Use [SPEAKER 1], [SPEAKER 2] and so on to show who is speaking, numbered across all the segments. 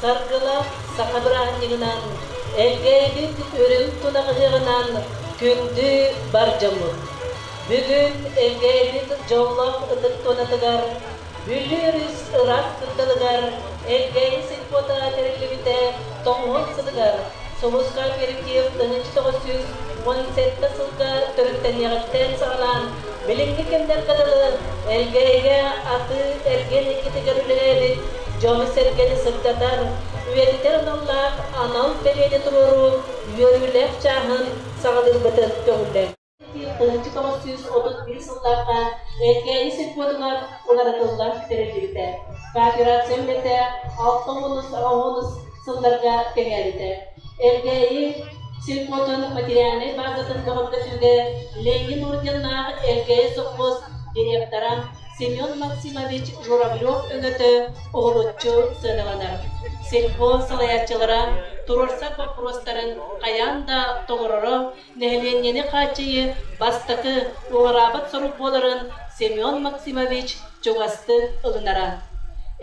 [SPEAKER 1] Саргылаах саха бырааһынньыгынан Элгээйи үрүҥ тунаҕаһыаҕынан күндү бар дьоммут! Бүгүн Элгээйи дьоллоох ытык туонатыгар, Бүлүү өрүс ыраах кутталыгар Элгээйи сельпота тэриллибитэ тоҥуһун сылыгар сулусха перекир тыһыынча тоҕус сүүс уон сэттэ сылга төрүттэниэҕиттэн саҕалаан билиҥҥи кэмнэргэ дылы Элгээйигэ атыы эргин иккитигэр үлэлээбит дьону-сэргэни сырдатар, үйэтитэр аналлаах анал бэлиэни туруоруу үөрүүлээх чааһын саҕалыырбытын көҕүллэр. Алтык тоҕус сүүс отут биир сыллаахха Эргээни сельпотугар уларытыллан тэриллибитэ, кооперация үлэтэ алтыһынус, оһунус сылларга тэҥээбитэ. Эргээйи сельпотун материальнай баазатын бөҕөргөтүүгэ Ленин орденнаах Эргээйи сопхуос директора Семен Максимович Журавлев өҥөтө уһулуччу сыаналанар. Сельпо салайааччылара туруорсар боппуруостарын хайаан да толороро, нэһилиэнньэни хааччыйыы бастакы уҥараабыт сорук буоларын Семен Максимович чугастык ылынара.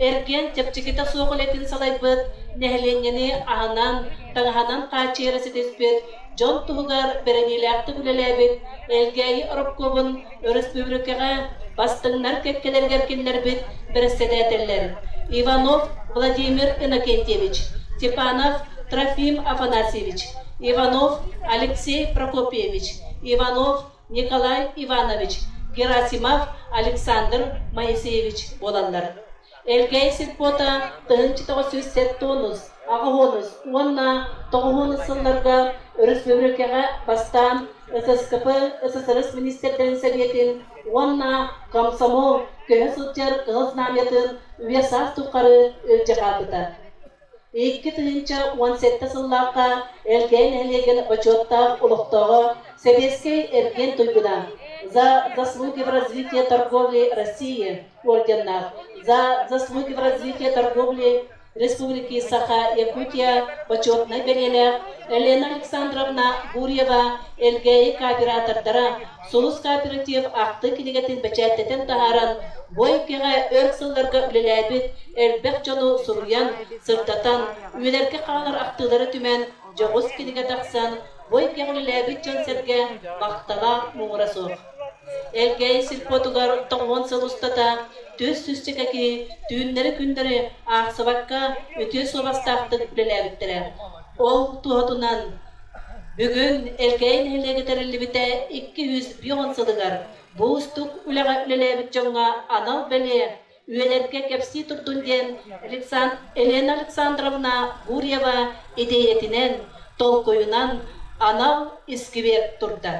[SPEAKER 1] Эргиэн чэпчэкитэ суох үлэтин салайбыт, нэһилиэнньэни аһынан, таҥаһынан хааччыйара ситиспит, дьон туһугар бэриниилээхтик үлэлээбит Элгээйи оропкуобун Өрөспүүбүлүкэҕэ бастыҥнар кэккэлэригэр киллэрбит бэрэссэдээтэллэр Иванов Владимир Иннокентьевич, Степанов Трофим Афанасьевич, Иванов Алексей Прокопьевич, Иванов Николай Иванович, Герасимов Александр Моисеевич буолаллар. Элгээй сельпота тыһыынча тоҕус сүүс сэт туонус, аҕыһыонус уонна тоҕуһуонус сылларга өрөспүүбүлүкэҕэ бастаан ССКП ССRS министэрдэрин сэбиэтин уонна комсомол көһө сылдьар Ыал Знамятын үйэ-саас тухары илдьэ хаалбыта Икки тыһыынча уон сэттэ сыллаахха Элгээн нэһилиэгин бочуоттаах олохтооҕо, сэбиэскэй эргиэн туйгуна, «За заслуги в развитии торговли России» орденнаах, «За заслуги в развитии торговли Республики Саха Якутия» бочуотунай бэлиэлээх Елена Александровна Гурьева Элгээйи кооператордара Сулус кооператив ахтыы кинигэтин бэчээттэтэн таһааран, бу эйгэҕэ өр сылларга үлэлээбит элбэх дьону суруйан, сырдатан, үйэлэргэ хаалар ахтыылара түмэн, дьоҕус кинигэ тахсан, бу эйгэҕэ үлэлээбит дьон-сэргэ махтала муҥура суох. Элгээйи сельпотугар тоҥуон сыл устата түөрт сүүсчэкэ киһи түүннэри-күннэри аахсыбакка үтүө суобастаахтык үлэлээбиттэрэ. Ол туһатынан Бүгүн Элкэйи нэһилиэгэ тэриллибитэ икки сүүс биир уон сылыгар бу уустук үлэҕэ үлэлээбит дьоҥҥо анал бэлиэ үйэлэргэ кэпсии турдун диэн Александ... Елена Александровна Гурьева идиэйэтинэн, толкуйунан анал искибиэр турда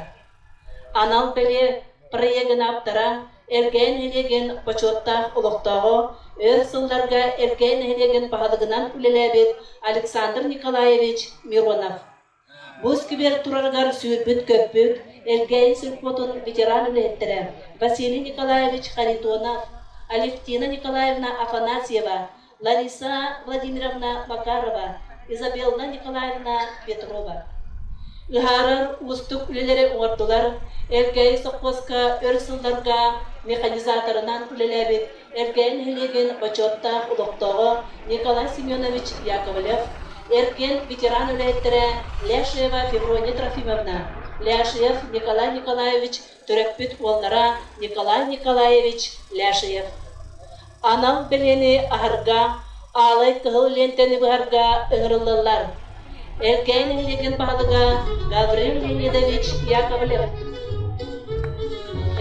[SPEAKER 1] Анал бэлиэ проегынааптара Элгээн нэһилиэгин бочуоттаах олохтооҕо, өр сылларга Элгээн нэһилиэгин баһылыгынан үлэлээбит Александр Николаевич Миронов Бу сквер турарыгар сүүрбүт-көппүт, Элгээн сельпотун ветеран үлэһиттэрэ Василий Николаевич Харитонов, Алевтина Николаевна Афанасьева, Лариса Владимировна Макарова, Изабелла Николаевна Петрова. Ыһаарар уустук үлэлэри оҥордулар, Элгээйи сопхуоска өр сылларга механизаторынан үлэлээбит Элгээйи нэһилиэгин бочуоттаах олохтооҕо Николай Семенович Яковлев, эргэн ветеран үлэһиттэрэ Ляшева Феврония Трофимовна, Ляшев Николай Николаевич төрөппүт уоллара Николай Николаевич Ляшиев анал бэлиэни аһарга, аалай кыһыл лиэнтэни быһарга ыҥырыллаллар. Элкээн нэһилиэгин баһылыга Гаврил Леонидович Яковлев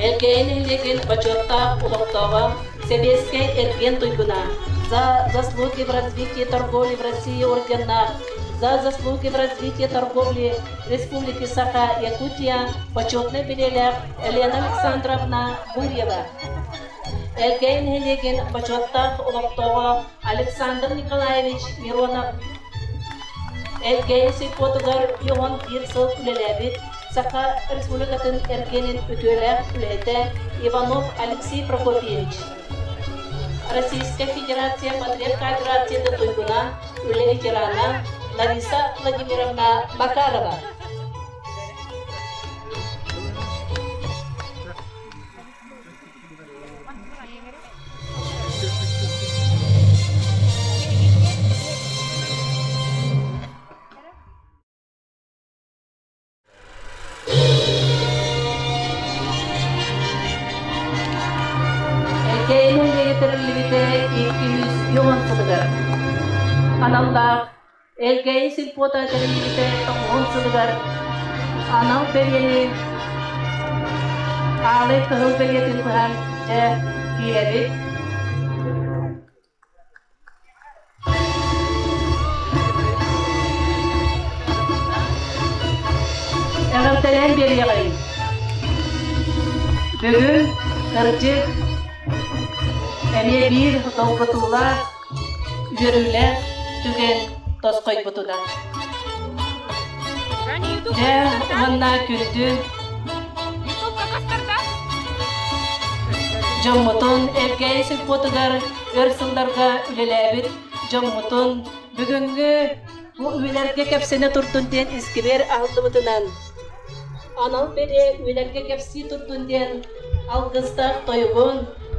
[SPEAKER 1] Элгээйи нэһилиэгин бочуоттаах олохтооҕо, сэбиэскэй эргиэн туйгуна, за заслуги в развитии торговли в России орденнаах, за заслуги в развитии торговли Республики Саха, Якутия почетнай билиэлээх Елена Александровна Гурьева, Эргэй нэһилиэгин бочуоттаах олохтооҕо Александр Николаевич Миронов, Эргэй сельпотугар бион биир сыл үлэлээбит Саха Республикатын эргэнин үтүөлээх үлэһитэ Иванов Алексей Прокопьевич, Российская Федерация Патриархата дойдуна үлэ ветерана Лариса Владимировна Макарова Кээнэ үөйэ тэриллибитэ икки жүз үһүөн сылыгар, аналлаах Элгээйи сельпота тэриллибитэ тоҥуһун сылыгар анал бэлиэни аалай кыһыл бэлиэтин быһан дьэ киэбит Эҕэлтэлээн биэриэҕиҥ! Бүгүн, кырдьык, эмиэ биир долгутуулаах үөрүүлээх түгэн тосхойбутунан. Дьэ, уонна күндү Дьоммутун Элгээйи сельпотугар өр сылларга үлэлээбит дьоммутун бүгүҥҥү бу үлэлэргэ кэпсэнэ турдун диэн искибиэр аһыллыбытынан анал бэлиэ үлэлэргэ кэпсии турдун диэн Алгыстаах тойугун,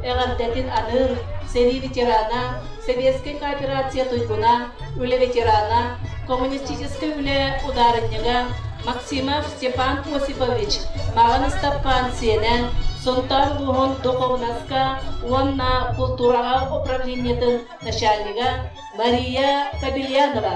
[SPEAKER 1] эҕэрдэтин аныыр сэрии ветерана, сэбиэскэй кооперация туйгуна, үлэ ветерана, коммунистическай үлэ удаарынньыга Максимов Степан Осипович Маҕан Ыстапаан сиэнэ, Сунтаар улууһун духовноска уонна култуураҕа управлениетын начальнига Мария Кобельянова,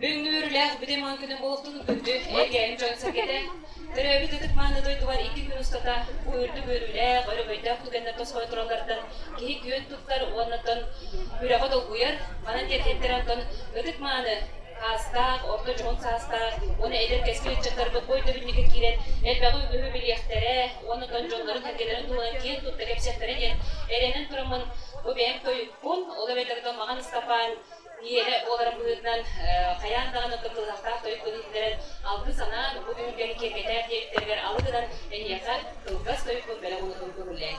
[SPEAKER 2] Бүгүҥҥү үөрүүлээх бүтүн маҥан күнүн олохтуун күндү эйгээним дьон-сэргэтэ төрөөбүт ытык мааны дойдубар икки күн устата үрдүк үөрүүлээх өрөгөйдөөх түгэннэр тосхой туралларыттан киһи күөн туттар уонна дон үрэҕи долгуйар манан тиэртиттэр онтон ытык мааны аастаах орто дьоһун саастаах уонна эдэр кэскил ыччаттарбыт бу өйдөбүнньүккэ киирэн элбэҕи үгүһү билиэхтэрэ уонна дон дьоннорун сэргэлэрин туһунан киэн тутта кэпсиэхтэрэ диэн эрэнэн тураммын бу бэйэм Кун, ол эбэтэр маҕан ыспапаан ийэлэ буоларын быһыытынан хайаан даҕаны кыттыһыахтаах тойук көрүһүннэрэн алгыы санаан бу түһүлгэни киэргэтээр диэбиттэригэр алы гынан эһиэхэ кылгас тойук бэлэх уутун көҕүлээн.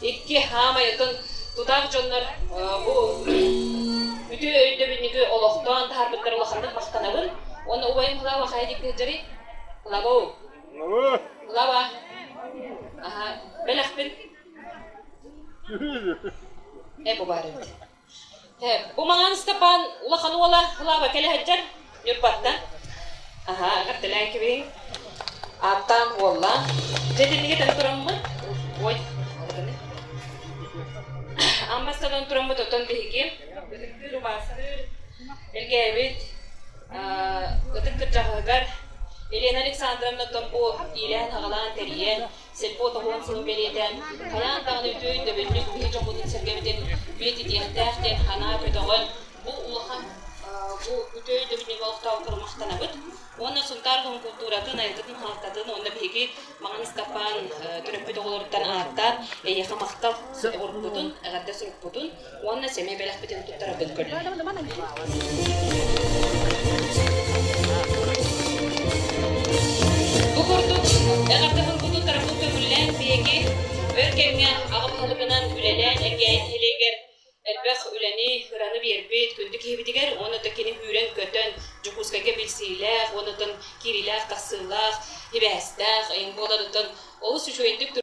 [SPEAKER 2] Икки саамай ытын тутаах дьоннор бу үтүө өйдөбүнньүгү олохтоон таһаарбыттар улаханнык махтанабын уонна убайым Лава хайа диэки сылдьарый? Лавау. Лава. Аха, бэлэхпин. Эп убаарыбыт. Бу маҥан Ыстапаан улахан уола Лааба кэлэ сылдьар Ньурбаттан. Аһаа, эҕэрдэлээн кэбиһиҥ. Ааттаан уоллаан. Дьэ, итинник этэн тураммын, ой, арыгыны. Ам бастатан тураммыт оттон биһиги ытыктыыр убаастыыр илгээбит ытык кырдьаҕаһыгар Елена Александровна оттон бу иилээн-хагалаан, тэрийэн, Сельпот уһун сылы бэлиэтээн, хайаан даҕаны үтүө өйдөбүнньүк киһи дьоһунун-сэргэбитин үйэтитиэхтээх диэн санаа көтөҕөн, бу улахан бу үтүө өйдөбүнньүк олохтоохтору махтанабыт уонна Сунтаар улууһун култууратын, айылгытын, хаалтатын уонна биһиги Маҕан Ыстапаан төрөппүт оҕолоруттан ааттаан эйиэхэ махтал уруккутун, эҕэрдэ сурукпутун уонна сэмэй бэлэхпитин туттарарбын көрдүм. Бу курдук эҕэрдэбин бу туттарбын көҥүллээн биһиги өр кэмҥэ аҕам тылбынан үлэлээн эргээн нэһилиэгэр элбэх үлэни, ыраны биэрбит күндү киһибитигэр уонна да кини күүрэн-көтөн Дьокуускайга билсиилээх уонна киириилээх-тахсыылаах, ибэһэстээх, эйин буоларыттан олус үчүгэйдик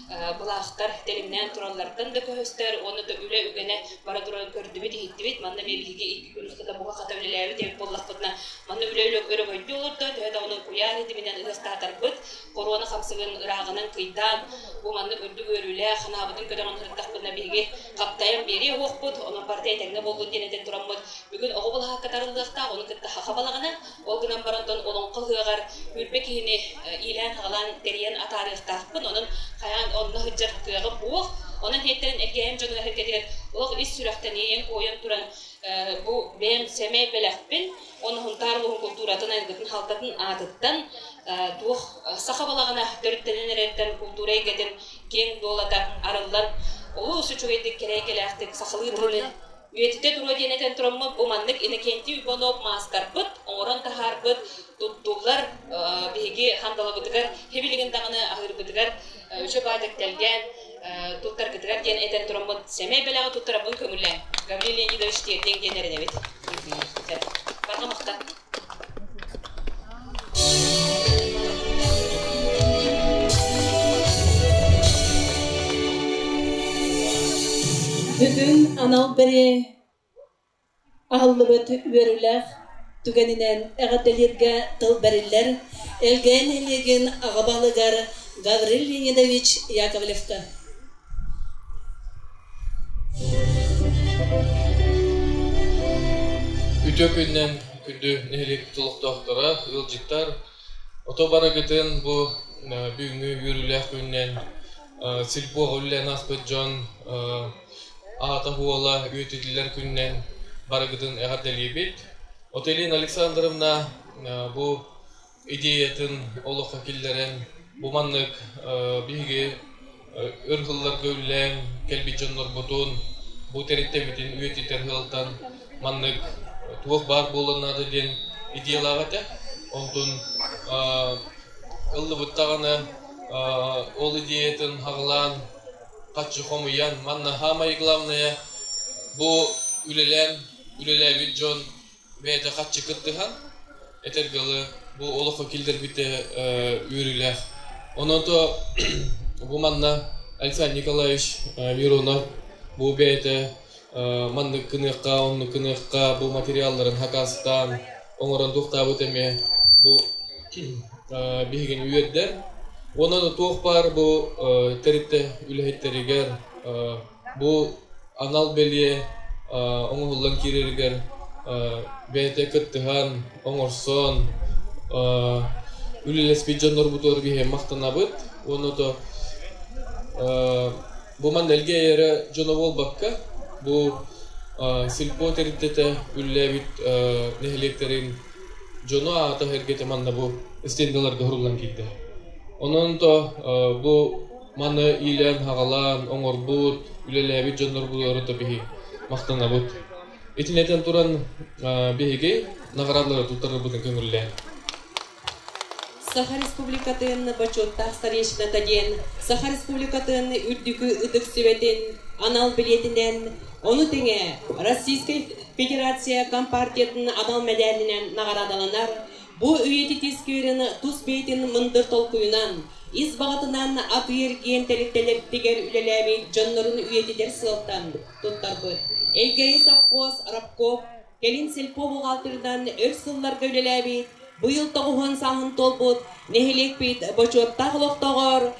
[SPEAKER 2] былаахтар тэлимнээн туралларыттан да көһөстөр уонна да үлэ үгэнэ бара турарын көрдүбүт иһиттибит манна биһиги икки күн устата бука-хата үлэлээбит эбит буоллахпытына манна үлэ өрөгөйдүү олордон төһө даҕаны куйаар идиминэн ытыстаатарбыт коруона хамсыгын ырааҕынан кыйдаан бу маннык үрдүк үөрүүлээх санаабытын көтөҕөн сырыттахпытына биһиги хаптайан биэриэ уһуохпут онон барыта этэҥҥэ буоллун диэн этэн тураммыт бүгүн оҕо былаһаакка тарыллыахтаах ону кытта хаха балаҕана Ол гынан баран дон олоҥхо ыһыаҕар үүрбэ киһини иилээн-хаҕалаан тэрийэн атаарыахтаахпын, онон хайаан онно сылдьар кыаҕым буох. Онон иһиттэн эһиэм дьоно эһэргэтигэр олох ис сүрэхтэниэйэн куойан туран бу бэйэм сэмэй бэлэхпин, оноһунтаар улуһун култууратын айылгытын халтатын аатыттан туох саха балаҕана төрүттэнэн эрэртэн култуура эйгэтин киэҥ дуолата арыллан олус үчүгэйдик, кэрэйгэлээхтик сахалыы тылы Үйэтитэ туруо диэн этэн тураммыт, бу маннык Иннокентий Иванов маастарбыт, оҥорон таһаарбыт, туттуллар биһиги хандалабытыгар, хибилигин даҕаны аһыырбытыгар үчү баайдык тэлгээн туттаргытыгар диэн этэн тураммыт сэмэй бэлэҕи туттарабын көҥүллээн Гаврил Леонидович тиэрдиҥ диэн эрэнэбит. Барҕа махтал.
[SPEAKER 1] Бүгүн анал бэрэ аһыллыбыт үөрүүлэх түгэнинэн эҕэрдэлииргэ тыл бэриллэр Элгээн нэһилиэгин аҕа баһылыгар Гаврил Леонидович Яковлевка
[SPEAKER 3] Үтүө күнүнэн күндү нэһилиэкпит олохтоохторо, ыалдьыттар! Ото барыгытын бу бүгүҥҥү үөрүүлээх күнүнэн сельпоҕа үлэлээн ааспыт дьон аата-суола үйэтитиллэр күнүнэн барыгытын эҕэрдэлиибит. Отелина Александровна, бу идеятын олоххо киллэрэн бу маннык биһиги өр сылларга үллээн кэлбит дьоннорбутун бу тэрилтэбитин үйэтитэр сыалтан маннык туох баар буолуон наада диэн идеялаах этэ онтун ыллыбыт даҕаны ол идеятын аҕылаан хаччы хомуйан манна саамай главное бу үлэлээн үлэлээбит дьон бэйэтэ харчы кыттыһан этэргэли бу олоххо киллэрбитэ үөрүүлээх онон то бу манна александр николаевич миронов бу бэйэтэ маннык гыныахха оннук гыныахха бу материалларын хакаастаан оҥорон туохтаабыт эмиэ бу биһигини үөрдэр уонна да туох баар бу тэрилтэ үлэһиттэригэр Бу анал бэлиэ оҥоһуллан киирэригэр бэйэтэ кыттыһан, оҥорсон үлэлэспит дьоннорбутугар биһиэхэ махтанабыт уонна то бу манна элгиэй эрэ дьоно буолбакка бу сельпо тэрилтэтэ үлэлээбит нэһилиэктэрин дьоно аата-сэргэтэ манна бу стендаларга суруллан киирдэ. Онон то бу Маны иилээн-хагалаан, оҥорбут, үлэлээбит дьоннорбутугар биһи махтанабыт. Итини этэн туран, биһиги наҕараадалары туттарарбытын көҥүллээн. Саха
[SPEAKER 4] Республикатын бочуоттаах старейшината диэн Саха Республикатын үрдүкү ытык сүбэтин анал билиэтинэн, ону тэҥэ Российскай Федерация Компартиятын анал мэдээлинэн наҕараадаланар Бу үйэтит ис күүрүн, тус бэйэтин мындыр толкуйунан, ис баҕатынан атыыр киэн тэрилтэлэртигэр үлэлээбит дьоннорун үйэтитэр сыалтан туттарбыт Элгээйи сопхуос рабкоп, кэлин сельпо бухгалтерынан өр сылларга үлэлээбит, быйыл тоҕуһун сааһын туолбут нэһилиэкпит бочуоттаах олохтооҕор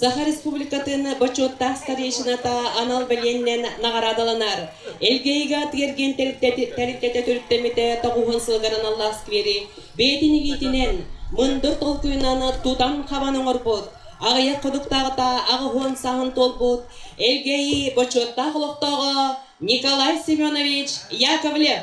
[SPEAKER 4] Саха Республикатын Бочуоттаах старейшината анал бэлиэнинэн наҕараадаланар Элгэ ыйга тиэргиэн тэрилтэтэ төрүттэммитэ тоҕуһун сылыгар аналлаах сквери бэйэтин игиитинэн мындыр толкуйунан тутан хабан оҥорбут аҕыйах ходуктааҕыта аҕыһуон саһын туолбут Элгэ ыйы бочуоттаах олохтооҕо Николай Семенович Яковлев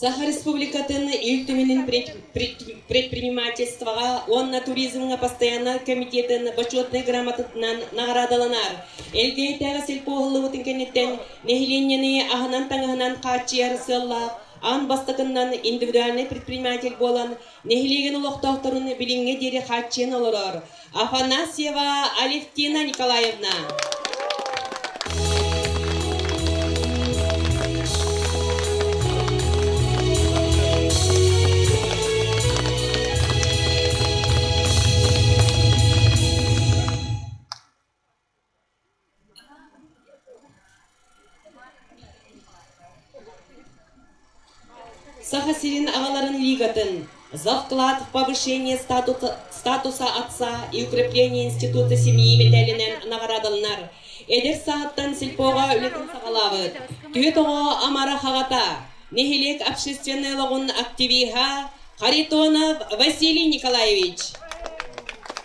[SPEAKER 4] Саха Республикатын Ил Түмэнин предпринимательствоҕа уонна туризмҥа постояннай комитетын Бочуотунай грамотатынан наҕараадаланар. Элгээйитээҕи сельпо уһуллубутун кэнниттэн нэһилиэнньэни аһынан-таҥаһынан хааччыйар сыаллаах, аан бастакыннан индивидуальнай предприниматель буолан, Нэһилиэгин олохтоохторун билиҥҥэ диэри хааччыйан олорор Афанасьева Алевтина Николаевна. Саха сирин аҕаларын лигатын «Завклад повышения статуса, статуса отца и укрепления института семьи» мэтээлинэн наҕараадаланар. Эдэр сааттан сельпоҕа үлэтин саҕалаабыт. Түһүт оҕо амара хаҕата, нэһилиэк общественнай олоҕун активиһа Харитонов Василий Николаевич.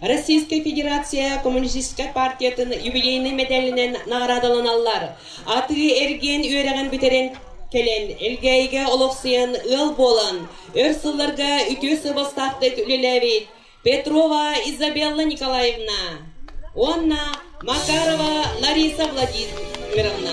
[SPEAKER 4] Российская Федерация Коммунистическай партиятын юбилейнай мэдээлинэн наҕараадаланаллар. Атыы-эргиэн үөрэҕин бүтэрэн кэлэн, Элгээйигэ олохсуйан ыал буолан, өр сылларга үтүө сыабастаахтык үлэлээбит Петрова Изабелла Николаевна уонна Макарова Лариса Владимировна.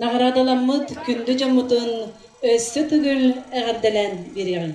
[SPEAKER 4] Наҕараадаламмыт күндү дьоммутун өссө төгүл эҕэрдэлээн биэриэҕиҥ!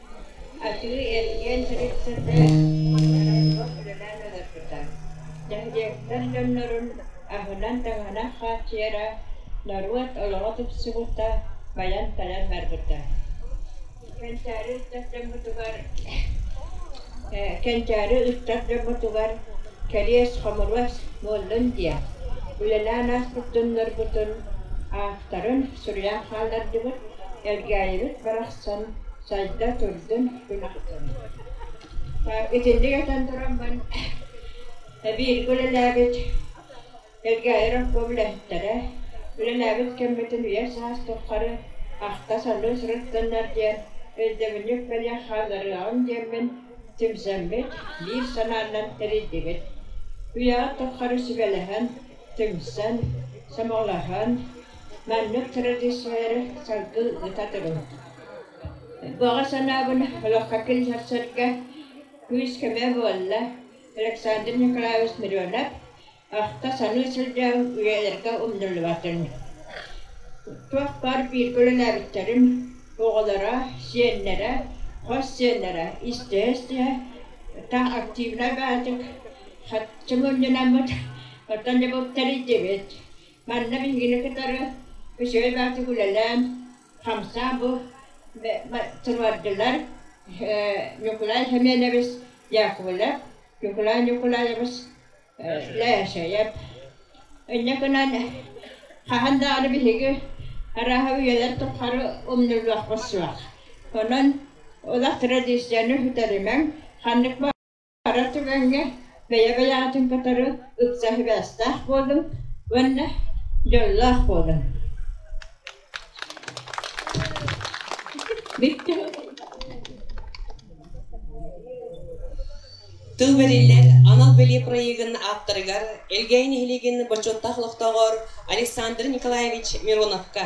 [SPEAKER 5] Атыы-эргиэн түһүлгэтэ Муннарыллыбат үлэлээн олорбута. Нэһилиэктэр дьоннорун аһынан-таҥаһынан хааччыйара, норуот олоҕо тупсубута, байан-талан барбыта. Кэнчээри ыччат дьоммутугар Кэнчээри ыччат дьоммутугар кэлиэс хомуруос буоллун диэн үлэлээн ааспыт дьоннорбутун, аахтарын суруйан хааллардыбыт, Элгээйибит барахсан сайда көрдөн өлүктэн Итинник этэн тураммын эбииргэ үлэлээбит Элгээйи рабком үлэһиттэрэ үлэлээбит кэммитин үйэ саас туххары ахта-салыы сырыттыннар диэн өйдөбүнньүк бэлиэ хаалларыаҕын диэммин тимсэммит биир санааннан тэрийдибит. Үйэҕит туххары сүбэлэһэн түмсэн, сомоҕолоһон, маннык традициялары салгыы ыыта туруҥ. Баҕа санаабын олоххо киллэрсэргэ күүс-көмө буолла Александр Николаевич Миронов ахта-саныы сылдьан үйэлэргэ умнуллубатын. Туохпар бииргэ үлэлээбиттэрим оҕолоро, сиэннэрэ, хос сиэннэрэ истиһэ-истиһэ таҥ активнай баатык Сачча мунньунаммыт, оттон дьобуктар иитдибит. Манна биһигини кытары үчүгэй баҕатык үлэлээн, хамсаан бу туруордулар Ньукулай Хименевич Яковлев, Ньукулай Ньукулаевич Лээшэйэп. Инньэ гынан хаһан даҕаны биһиги арааһа үйэлэр тухары умнуллуохпут суох. Онон олох традицияны үтэримэҥ, ханнык Ара түгэҥҥэ бэйэ-бэйэҕитин кытары ыкса сибээстээх буолуҥ уонна дьоллоох буолуҥ
[SPEAKER 4] Тыл бэриллэр анал бэлиэ проегын ааптарыгар Элгээй нэһилиэгин бочуоттаах олохтооҕор Александр Николаевич Мироновка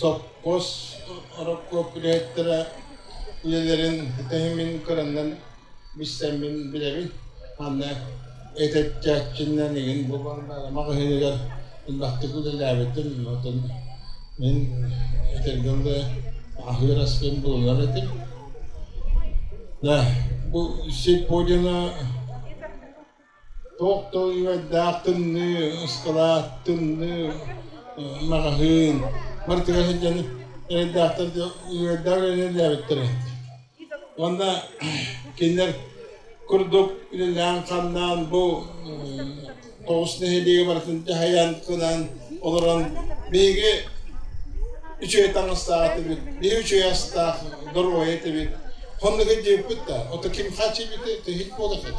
[SPEAKER 6] Сопхуос орокуоп үлэһиттэрэ үлэлэрин ситиһимин көрөннөн билсэммин билэбин уонна этэччээччиннэнигин бу баҕалаах иһигэр элбэхтик үлэлээбитим отон мин этэргэ дылы аһыыр аскын булунар этим да бу сеть подиума Туох да үөрэхтээх тымныы, ыскылаат, тымныы маҕаһыын барытыгар сылдьан эрэйдээхтэр үөрэхтээх үлэлээбиттэр үһү. Уонна кинилэр курдук үлэлээн-хамнаан бу тоҕус нэһилиэгэ барытын дьаһайан, кынан олорон биһиги үчүгэй таҥастаах этибит, биһи үчүгэй астаах доруойа этибит. Хоннук илдьибиппит да, ото ким хачыйбытай, то иһит буола хач.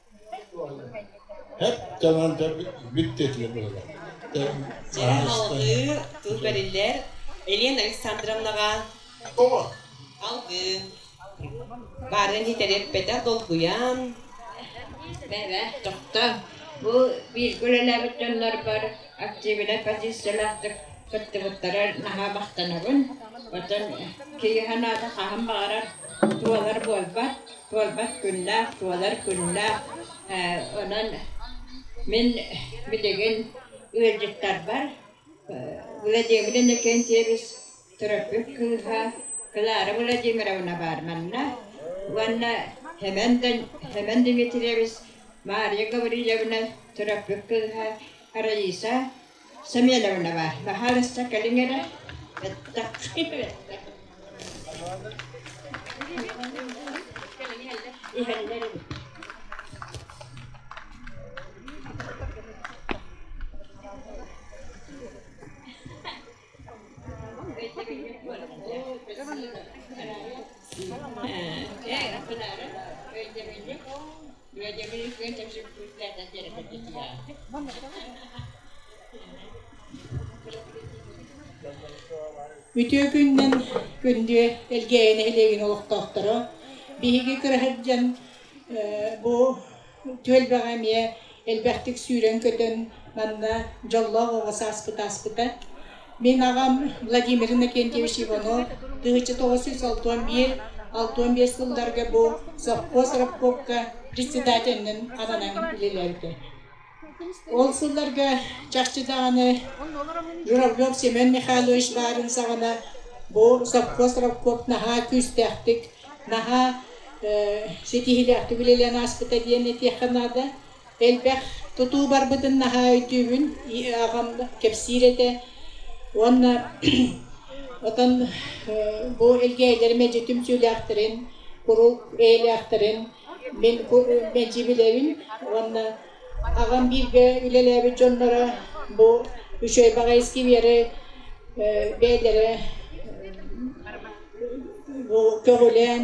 [SPEAKER 6] Һэт таҥан бүт диэтилэр быһылар Алгыы,
[SPEAKER 4] тыл бэриллэр Елена Александровнаҕа Алгыы баарын иһитэр эппэтэх долгуйан
[SPEAKER 5] Бэбэ, тохто, бу бииргэ үлэлээбит дьоннорбор Активинай позициялаахтык кыттыбыттара наһаа махтанабын. Оттон киһи санаата хаһан баҕарар туолар буолбат, туолбат күннээх, туолар күннээх. Ээ онон мин билигин ыалдьыттарбар Владимир Иннокентьевич Төрөппүт кыыһа Клара Владимировна баар манна уонна Хэмэндэн Хэмэн Дмитриевич Мария Гаврильевна төрөппүт кыыһа Раиса Семеновна баар. Баһаарысса кэлиҥ эрэ. Бэттэх. Бэттэх. Иһэллэр эбит.
[SPEAKER 7] Үтүө күнүнэн күндү Элгээйи нэһилиэгин олохтоохторо! Биһиги кыра сылдьан бу Түөлбэҕэ эмиэ элбэхтик сүүрэн-көтөн манна дьоллоох оҕо сааспыт ааспыта. Мин аҕам Владимир Иннокентьевич Иванов тыһычча тоҕус сүүс алтан биир алтан биэс сылларга бу сопхуос рабкомка председателинэн ананан үлэлэрдэ. Ол сылларга чахчы даҕаны Журавлев Семен Михайлович баарын саҕана бу сопхуос рабкоп наһаа күүстээхтик Наһаа ситиһиилээхтик үлэлээн ааспыта диэн этиэххэ наада. Элбэх тутуу барбытын наһаа өйдүүбүн. Аҕам кэпсиир этэ. Уонна отон бу элгээйилэр мэлдьи түмсүүлээхтэрин, куруук бэйэлээхтэрин мин мэлдьи билэбин уонна Аҕам бииргэ үлэлээбит дьонноро бу үчүгэй баҕайытык үөри бэйэлэрэ көҕүлээн,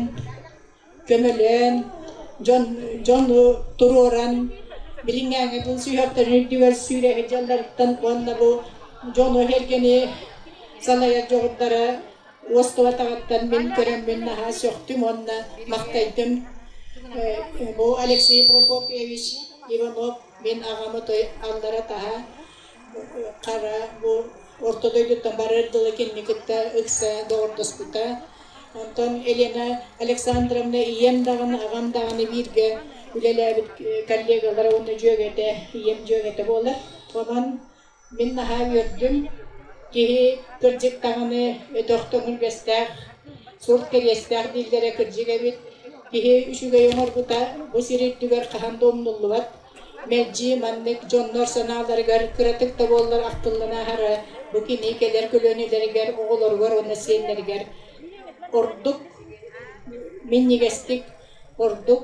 [SPEAKER 7] көмөлөөн, дьон дьону туруоран билиҥҥээҥи бу сүһүөхтэрин үрдүгэр сүүрээһин дьалларыттан уонна бу дьону, эргэни салайар дьоҕурдара уоскулатаҕыттан мин көрөммүн наһаа сөхтүм уонна махтайдым бу Алексей Прокопьевич Иванов мин аҕам отой аллара таһа хара бу орто дойдуттан барар дылы кинини кытта ыкса доҕордоспута онтон Елена Александровна ийэм даҕаны аҕам даҕаны бииргэ үлэлээбит коллегалара уонна дьүөгэтэ ийэм дьүөгэтэ буолар онон Мин наһаа үөрдүм, киһи кырдьыктаҕына өтөх көҥүлбэстээх, сурт кэриэстээх дииллэрэ кырдьык эбит. Киһи үчүгэй оҥорбута бу сир үрдүгэр хаһан да умнуллубат. Мэлдьи маннык дьоннор санааларыгар кыратык да буоллар ахтыллан ааһара бу кини кэлэр көлүөнэлэригэр, оҕолоругар уонна сиэннэригэр ордук минньигэстик, ордук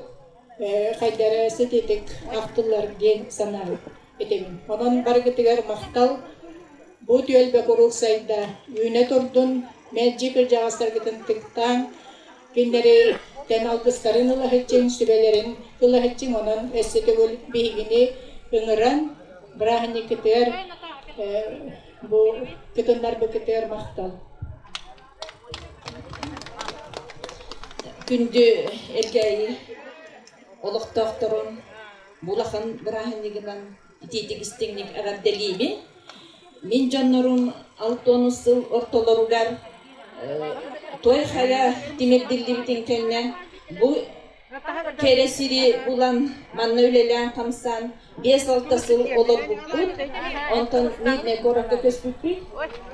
[SPEAKER 7] хайдары сититик ахтыллар диэн санаан этэбин. Онон барыгытыгар махтал. Бу түөлбэ куруук сайда, үүнэ турдун, мэлдьи кырдьаҕастаргытын тыктааҥ, кинилэри тэн алгыстарын ылаһыччыҥ, сүбэлэрин ылаһыччыҥ, онон өссө төгүл биһигини ыҥыран, бырааһынньыккытыгар бу кытыннарбыкытыгар махтал.
[SPEAKER 2] Күндү Элгээйи олохтоохторун бу улахан бырааһынньыгынан итиитик истиҥник эҕэрдэлиибин! Мин дьоннорум алтыонус сыл ортолоругар э, Туойх эрэ тимирдиллибитин кэннэ бу Кэрэ сири булан, манна үлэлээн-хамсаан биэс алта сыл олорбуппут. Онтон Миднэй куоракка көспүппүт.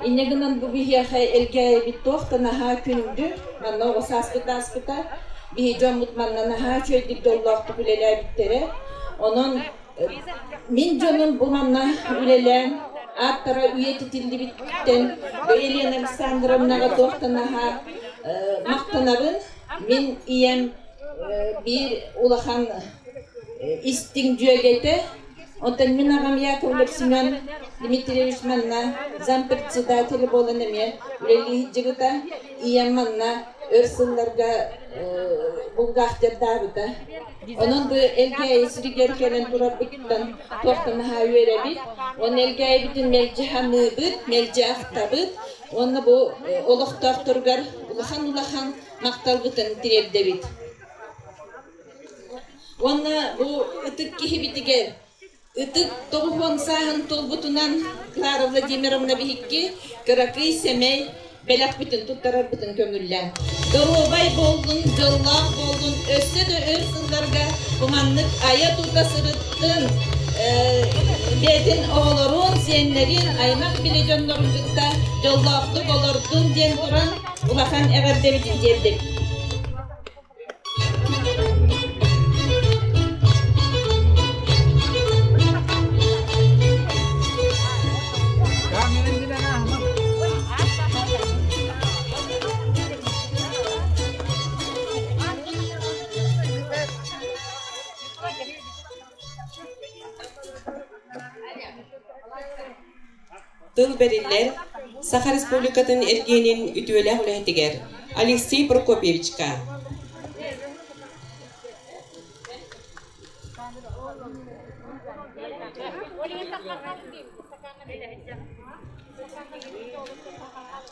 [SPEAKER 2] Инньэ гынан бу биһиэхэ элгээйибит туох да наһаа күндү. Манна оҕо сааспыт ааспыта. Биһи дьоммут манна наһаа үчүгэйдик доллоохтук үлэлээбиттэрэ. Онон э, мин дьонум бу манна үлэлээн ааттара үйэтитиллибиттэн Елена Александровнаҕа туох да наһаа э, махтанабын. Мин ийэм
[SPEAKER 5] биир улахан истиҥ дьүөгэтэ, оттон мин аҕам Яковлев Семен Дмитриевич манна зам председателя буолан эмиэ үлэлии сылдьыбыта. Ийэм манна өр сылларга булгаахтардаабыта. Онон бу Элгээйи сиригэр кэлэн турарбыттан туох да маһа үөрэбит. Оны Элгээйибитин мэлдьи саныыбыт, мэлдьи ахтабыт. Уонна бу олохтоохторугар улахан-улахан махталбытын тириэрдэбит. Уонна бу ытык киһибитигэр ытык тоҕуһуон сааһын толбутунан Клара Владимировна биһикки кыракый сэмэй бэлэхпитин туттарарбытын көҥүллээн. Доруобай буоллун, дьоллоох буоллун, өссө да өр сылларга куманнык айа-тута сырыт, бэйэтин оҕолорун, сиэннэрин, аймах били дьоннорун кытта дьоллоохтук олордун диэн туран улахан эҕэрдэбитин тиэрдим.
[SPEAKER 4] Тыл бэриллэр Саха Республикатын эргиэнин үтүөлээх үлэһитигэр Алексей Прокопьевичка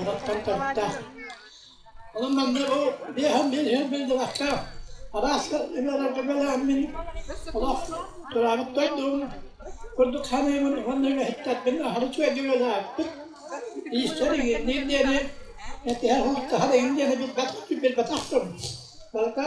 [SPEAKER 7] Олохтон төрүттээх. Олом манна бу биэһэн мин иһин биллибэхтээх. Арааска үбэлэргэ бэлээн мин олох тураабыт дойдум курдук саныыбын уонна үгэһиттэрбин аһары үчүгэйдик иистэр игинниир диэни этиһэр хостаһар игин диэни билбэтэх билбэтэх дум. Барыта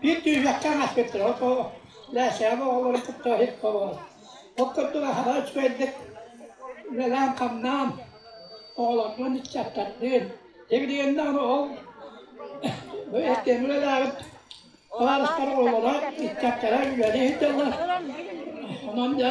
[SPEAKER 7] Биир түһүөххэ аспыттара то Лээсэҕэ оҕолорун кытта оһуокабыт ол курдук аһара үчүгэйдик үлэлээн-хамнаан оҕолорбун, ыччаттарбын дэгидэгэннээн ол үлэлээбит табаарыстар оҕолоро, ыччаттара үлэлии сылдьаллар онон дьэ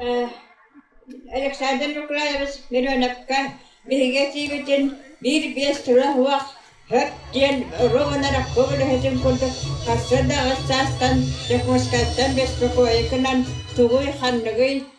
[SPEAKER 7] Э Александр Нукраевич Мироновка биһиги этиибитин биир биэс тыла уох һөт диэн ру гынар өкпөбүлэһитин курдук харса да ыс саастан Дьокуускайтан беспокойу гынан тугуй ханныгый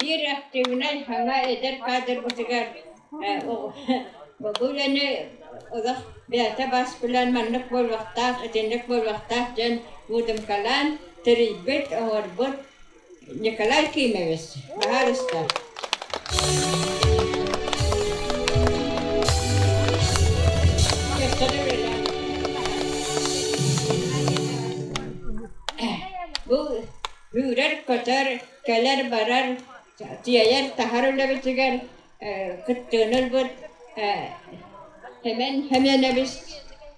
[SPEAKER 7] Биир активнай саҥа эдэр кадрбытыгар бу үлэни олох бэйэтэ бас билэн маннык буолуохтаах, итинник буолуохтаах дьон муудумкалаан тэрийбит, оҥорбут Николай Кимович, баһаарыста. Бу үүрэр-көтөр, кэлэр-барар, тиэйэр, таһар үлэбитигэр кыттыан ылбыт Хэмэн Хэмэнэбис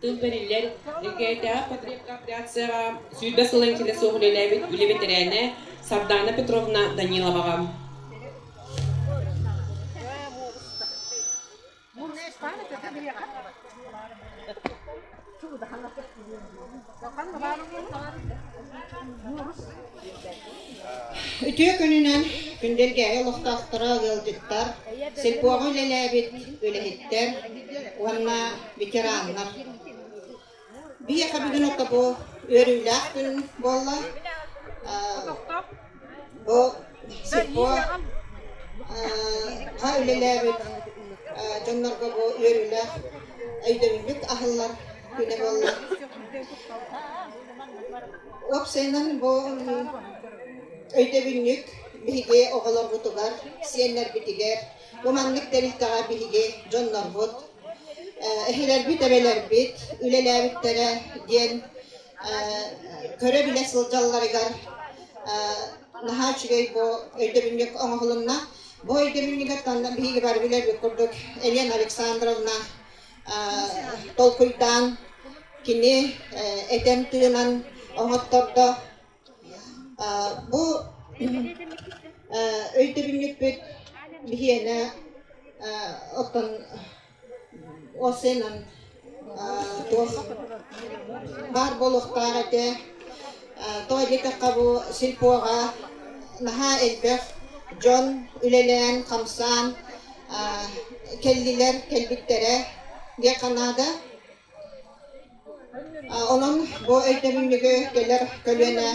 [SPEAKER 4] Тыл бэриллэр Элгээйитээҕи потребкооперацияҕа сүүрбэ сыла иҥситэ суох үлэлээбит үлэ бэтэрээнэ Сардаана Петровна Даниловаҕа
[SPEAKER 7] Үтүө күнүнэн Күндэлгээйи олохтоохторо ыалдьыттар, сельпоҕа үлэлээбит үлэһиттэр уонна ветераннар. Биһиэхэ бүгүн ото бу үөрүүлээх күн буолла. Бу сельпо ха үлэлээбит дьоннорго бу үөрүүлээх өйдөбүлбүт аһыллар күнэ буолла. Уопсайынан бу
[SPEAKER 8] өйдөбүнньүк биһиги оҕолорбутугар, сиэннэрбитигэр, бу маннык тэрилтэҕэ биһиги дьоннорбут, эһэлэрбит, эбэлэрбит үлэлээбиттэрэ диэн көрө-билэ сылдьалларыгар наһаа үчүгэй бу өйдөбүнньүк оҥоһулунна. Бу өйдөбүнньүгүттэн биһиги бары билэрбит курдук Елена Александровна толкуйдаан кини этэн тыынан оҥоттордо. Бу өйдөбүнньүкпүт биһиэнэ оттон Ол сыанан туох баар буолуохтаах этэ. Тоҕо диэтэххэ бу сельпоҕа наһаа элбэх дьон үлэлээн, хамсаан кэллилэр, кэлбиттэрэ диэххэ наада. Онон бу өйдөбүнньүгү кэлэр көлүөнэ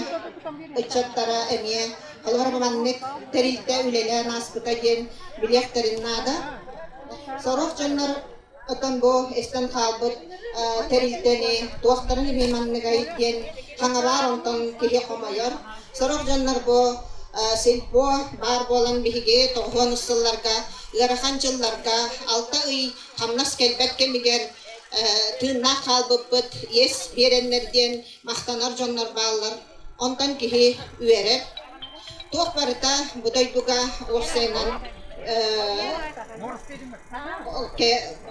[SPEAKER 8] ыччаттара эмиэ олоҕор маннык тэрилтэ үлэлээн ааспыта диэн билиэхтэрин наада. Сорох дьоннор оттон бу истэн хаалбыт тэрилтэни туохтарын эмиэ манныгай диэн хаҥабаар онтон киһи хомойор. Сорох дьоннор бу сельпо баар буолан биһиги тоҕуһуон устулларга ыарахан дьылларга алта ый хамнас кэлбэт кэмигэр тыыннаах хаалбыппыт иэс биэрэннэр диэн махтанар дьоннор бааллар онтон киһи үөрэр туох барыта бу дойдуга уопсайынан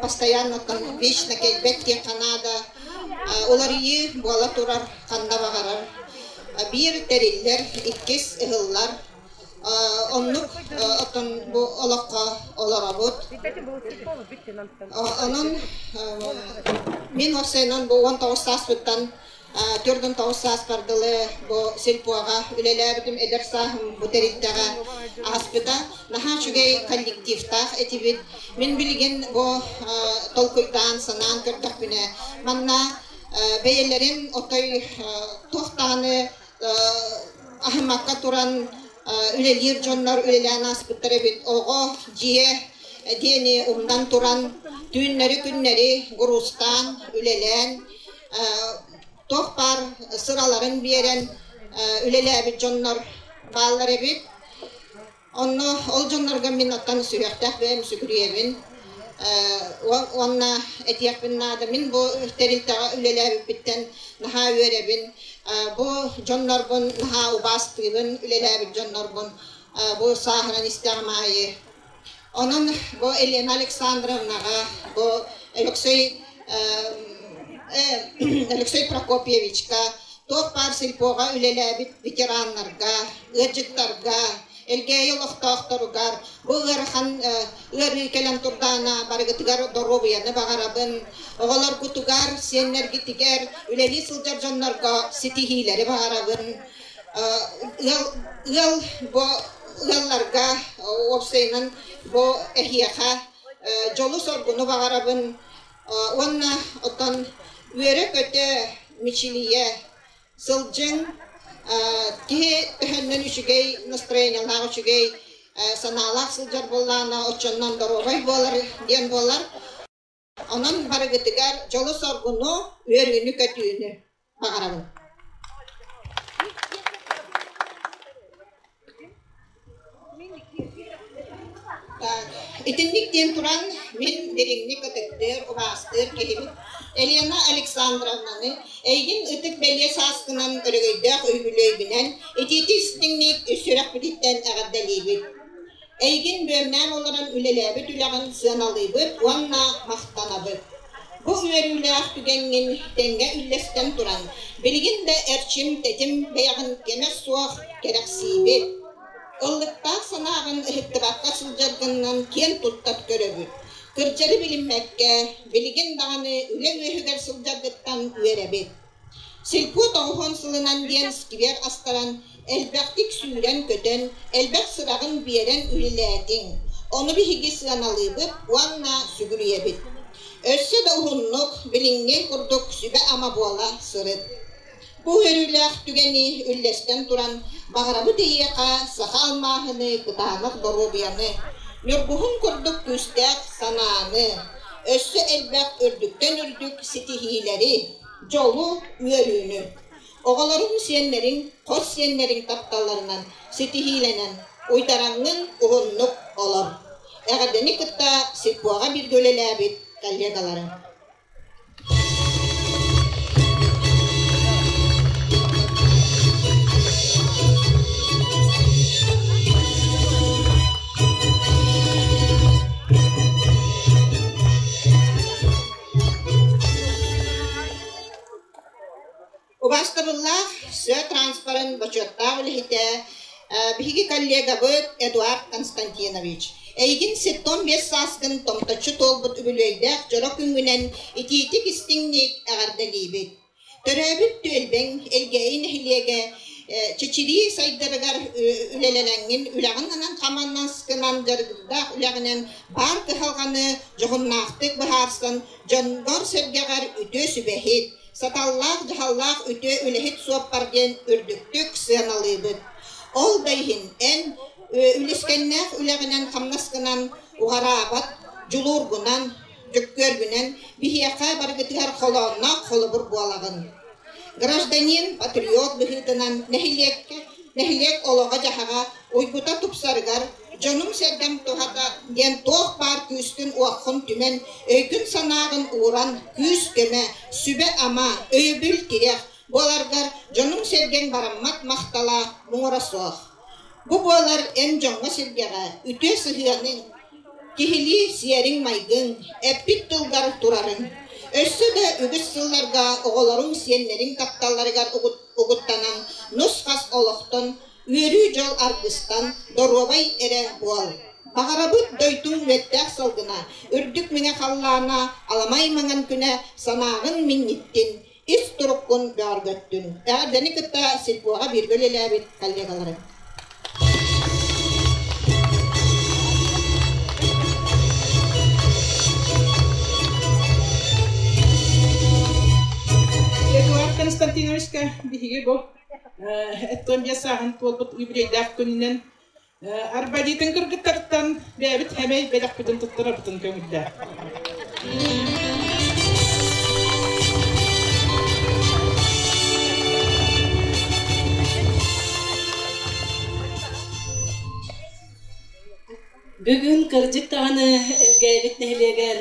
[SPEAKER 8] постоянно вечно кэлбэт диэххэ наада уларыйыы буола турар ханна баҕарар биир тэриллэр иккис ыһыллар Оннук оттон бу олоххо олоробут. Онон мин хосeenан бу уон тоҕус сааспыттан төрдүн тоҕус сааспар дылы бу сельпоҕа үлэлээбитим, эдэр сааһым бу тэрилтэҕэ ааспыта. Наһаа үчүгэй коллективтаах этибит. Мин билигин бу толкуйдаан, санаан көрдөхпүнэ, манна бэйэлэрин отой туохтааны Аһымакка туран үлэлиир дьоннор үлэлээн ааспыттар эбит. Оҕо дьиэ диэни умнан туран түүннэри-күннэри куруустаан, үлэлээн, туох баар сыраларын биэрэн үлэлээбит дьоннор бааллар эбит. Онно ол дьоннорго мин оттон сүһүөхтээх бэйэм сүгүрүйэбин уонна этиэхпин наада мин бу тэрилтэҕэ үлэлээбиппиттэн наһаа үөрэбин бу дьоннорбун наһаа убаастыыбын үлэлээбит дьоннорбун бу сааһынан истэҕим аайы онон бу Елена Александровнаҕа бу Алексей Алексей Прокопьевичка Туох-баар сельпоҕа үлэлээбит ветераннарга, ыалдьыттарга, Элгээйи олохтоохторугар бу ыарахан ыарыы кэлэн турдаҕына барыгытыгар доруобуйаны баҕарабын. Оҕолоргутугар, сиэннэргитигэр, үлэлии сылдьар дьоннорго ситиһиилэри баҕарабын. Ыал ыал бу ыалларга уопсайынан бу эһиэхэ дьолу-соргуну баҕарабын. уонна оттон үөрэ-көтө, мичилийэ сылдьыҥ киһи төһөннөн үчүгэй настроениялаах, үчүгэй санаалаах сылдьар буоллаҕына, оччонон доруобай буолар диэн буолар. Онон барыгытыгар дьолу-соргуну, үөрүүнү-көтүүнү. баҕарабын Итинник диэн туран, мин дириҥник ытыктыыр, убаастыыр киһибит Елена Александровнаны эйигин ытык бэлиэ сааскынан өрөгөйдөөх үбүлүөйбүнэн итиити истиҥник үс сүрэхпититтэн эҕэрдэлиибит. Эйигин бүөмнээн олорон үлэлээбит үлэҕин сыаналыыбыт уонна махтанабыт. Бу үөрүүлээх түгэҥҥин тэҥҥэ үллэстэн туран, билигин да эрчим-тэтим бэйэҕин кэмэ суох кэрэхсиибит. Ыллыктаах санааҕын ыһыктыбакка сылдьаргыннан киэн туттат көрөбүт. Кырдьары билиммэккэ, билигин даҕаны үлэ үөһүгэр сылдьаргыттан үөрэбит. Сиркут оһон сылынан диэн сквер астаран, элбэхтик сүүрэн-көтөн, элбэх сыраҕын биэрэн үлэлээтиҥ, ону биһиги сыаналыыбыт уонна сүгүрүйэбит. Өссө да уһуннук, билиҥҥи курдук сүбэ-ама буола сырыт. Бу үөрүүлээх түгэни үллэстэн туран, баҕарабыт эйиэхэ саха алмааһыны, кытаанах доруобуйаны, ньургуһун курдук күүстээх санааны, өссө элбэх үрдүктэн үрдүк ситиһиилэри, Дьолу, үөрүүнү! Оҕолоруҥ, сиэннэриҥ, хос сиэннэриҥ тапталларынан ситиһиилэнэн уйтараҥҥын уһуннук олор. Эҕэрдэни кытта сирпуоҕа бииргэ үлэлээбит коллегаларыҥ! Убаастабыллаах сыа транспорын бочуоттаах үлэһитэ, биһиги коллегабыт Эдуард Константинович. Эйигин сиртэн биэс сааскын томточчу туолбут үбүлүөйдээх дьоро күҥҥүнэн итиитик-истиҥник эҕэрдэлиибит. Төрөөбүт түөлбэҥ Элгээйи нэһилиэгэ чэчирии сайдарыгар үлэлэрэҥҥин үлэҕин анан-аманнаскынан дьарыктаах үлэҕинэн баар кыһалҕаны дьоһуннаахтык быһаарсан дьонгор-сэргэҕэр үтүө сүбэһит, саталлаах-дьаһаллаах үтүө үлэһит суоппар диэн үрдүктүк сыаналыыбыт. Ол да иһин эн үлэскэннээх үлэҕинэн-хамнаскынан уҕараабат, дьулуургунан, Дьөккүөрбүнэн биһиэхэ барыгытыгар холоонноох холобур буолаҕын. Гражданин, патриот быһыытынан нэһилиэккэ, нэһилиэк олоҕо-дьаһаҕа уйгута тупсарыгар дьонум-сэргэм туһата диэн туох баар күүскүн-уоххун түмэн, өйгүн-санааҕын ууран күүс-көмө, сүбэ-ама, өйөбүл тирэх буоларгар дьонуҥ-сэргэҥ бараммат махтала муҥура суох. Бу буолар эн дьоҥҥо-сэргэҕэ үтүө сыһыаны, киһилии сиэриҥ-майгыҥ, эппит тылгар турарыҥ, өссө да үгүс сылларга оҕолоруҥ, сиэннэриҥ тапталларыгар угуттанан нус-хас олохтон, үөрүү дьол аргыстан доруобай эрэ буол. Баҕарабыт дойдуҥ үөттээх сылгына, үрдүк мэҥэ халлаана аламай маҥан күнэ санааҕын минньиттин, ис туруккун бөҕөргөттүн, эҕэрдэни кытта сельпоҕа бииргэ үлэлээбит коллегалары.
[SPEAKER 7] Эдуард Константиновичка биһиги бу э, эттон диэ сааһын туолбут юбилейдаах күнүнэн Арбадитын кыргыттарыттан бэйэбит сэмэй бэлэхпитин туттарабытын көҥүллээх.
[SPEAKER 1] Бүгүн кырдьык даҕаны Элгээбит нэһилиэгэр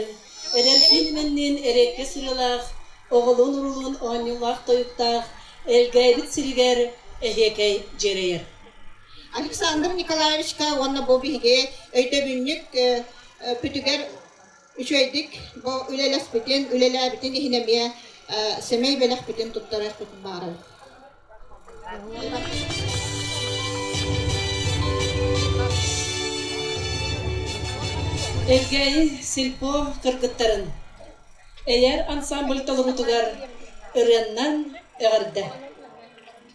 [SPEAKER 1] эдэрдиин имэнниин эриэккэ сырыылаах, оҕолуун-уруулуун оонньуулаах-тойуктаах Элгээбит сиригэр эһиэкэй дьиэрэйэр. Александр
[SPEAKER 8] Николаевичка уонна бу биһиги өйдөбүнньүк бүтүгэр үчүгэйдик бу үлэлэспитин, үлэлээбитин иһин эмиэ сэмэй бэлэхпитин туттарыахпытын баҕарабыт.
[SPEAKER 1] Элгээйи сельпо кыргыттарын Эйэр ансамбль толоруутугар ырыаннан эҕэрдэ!